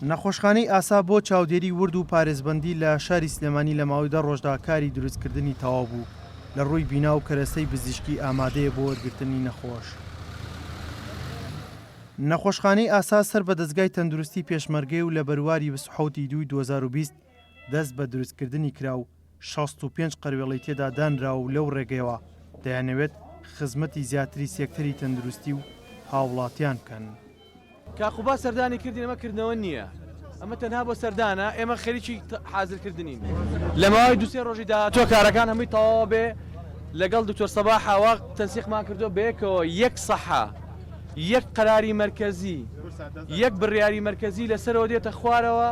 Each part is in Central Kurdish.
نەخۆشخانەی ئاسا بۆ چاودێری ورد و پارێزبەندی لە شاری سلێمانی لە ماوەی دە ڕۆژدا کاری دروستکردنی تەواو بوو، لە ڕووی بینا و کەرەستەی بزیشکی ئامادەیە بۆ وەرگرتنی نەخۆش. نەخۆشخانەی ئاسا سەر بە دەزگای تەندروستی پێشمەرگەیە و لە بەرواری بیست و حەوت ی دووی دوو هەزار و بیست دەست بە دروستکردنی کرا و، شەست و پێنج قەروێڵەی تێدا دانراوە و لەو ڕێگەیەوە دەیانەوێت خزمەتی زیاتری سێکتەری تەندروستی و هاوڵاتیان بکەن. کاک قوباد سەردانی کردین ئەمە کردنەوە نییە ئەمە تەنها بۆ سەردانە ئێمە خەریکی حازر کردنین لە ماوەی دوو سێ ڕۆژی داهاتووە کارەکان هەمووی تەواو بێ لەگەڵ دکتۆر سەباح ئاوا تەنسیقمان کردووە بەیەکەوە یەک سەحە یەک قەراری مەرکەزی یەک بڕیاری مەرکەزی لەسەرەوە دێتە خوارەوە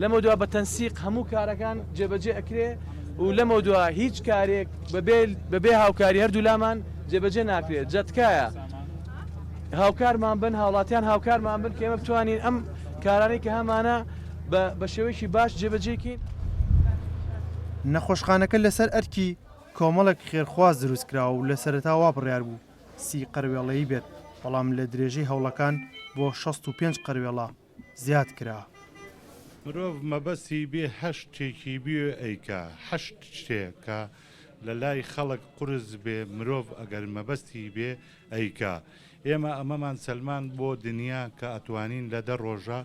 لەمەودوا بە تەنسیق هەموو کارەکان جێبەجێ ئەکرێ و لەمەودوا هیچ کارێک بەبێ بەبێ هاوکاری هەردوولامان جێبەجێ ناکرێت جا تکایە هاوکارمان بن هاوڵاتیان هاوکارمان بن کە ئێمە بتوانین ئەم کارانەی کە هەمانە بە شێوەیەکی باش جێبەجێکین. نەخۆشخانەکە لەسەر ئەرکی کۆمەڵێک خێرخواز دروستکراوە و لە سەرەتا وا بڕیار بوو سی قەروێڵەیی بێت، بەڵام لە درێژەی هەوڵەکان بۆ شەست و پێنج قەروێڵە زیاد کرا. مرۆڤ مەبەستی بێ هەشت تێکی بیێ ئەیکا هەشت شتێ کە لە لای خەڵک قورس بێ مرۆڤ ئەگەر مەبەستی بێ ئەیکا ئێمە ئەمەمان سەلماند بۆ دنیا کە ئەتوانین لە دە ڕۆژە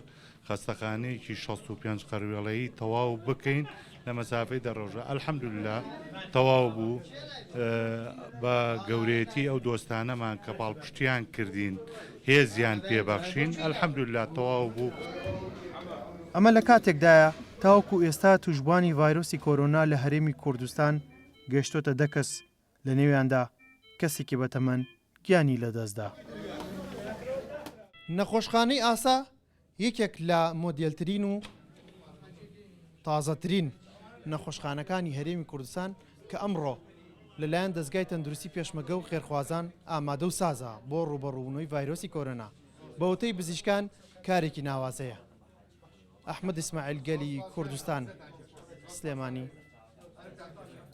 خەستەخانەیەکی شەست و پێنج قەروێڵەیی تەواو بکەین لە مەسافەی دە ڕۆژە الحمدللە تەواو بوو بە گەورەیەتی ئەو دۆستانەمان کە پاڵپشتیان کردین هێزیان پێبەخشین الحمدللە تەواو بوو. ئەمە لە کاتێکدایە تاوەکو ئێستا تووشبووانی ڤایرۆسی کۆرۆنا لە هەرێمی کوردستان گەیشتۆتە دە کەس لە نێویاندا کەسێکی بەتەمەن گیانی لەدەستدا. نەخۆشخانەی ئاسا یەکێک لە مۆدێلترین و تازەترین نەخۆشخانەکانی هەرێمی کوردستان کە ئەمڕۆ لەلایەن دەزگای تەندروستی پێشمەگە و خێرخوازان ئامادە و سازە بۆ ڕووبەڕووبوونەوەی ڤایرۆسی کۆرۆنا بە وتەی بزیشکان کارێکی ناوازەیە ئەحمەد ئیسماعیل گەلی کوردستان سلێمانی.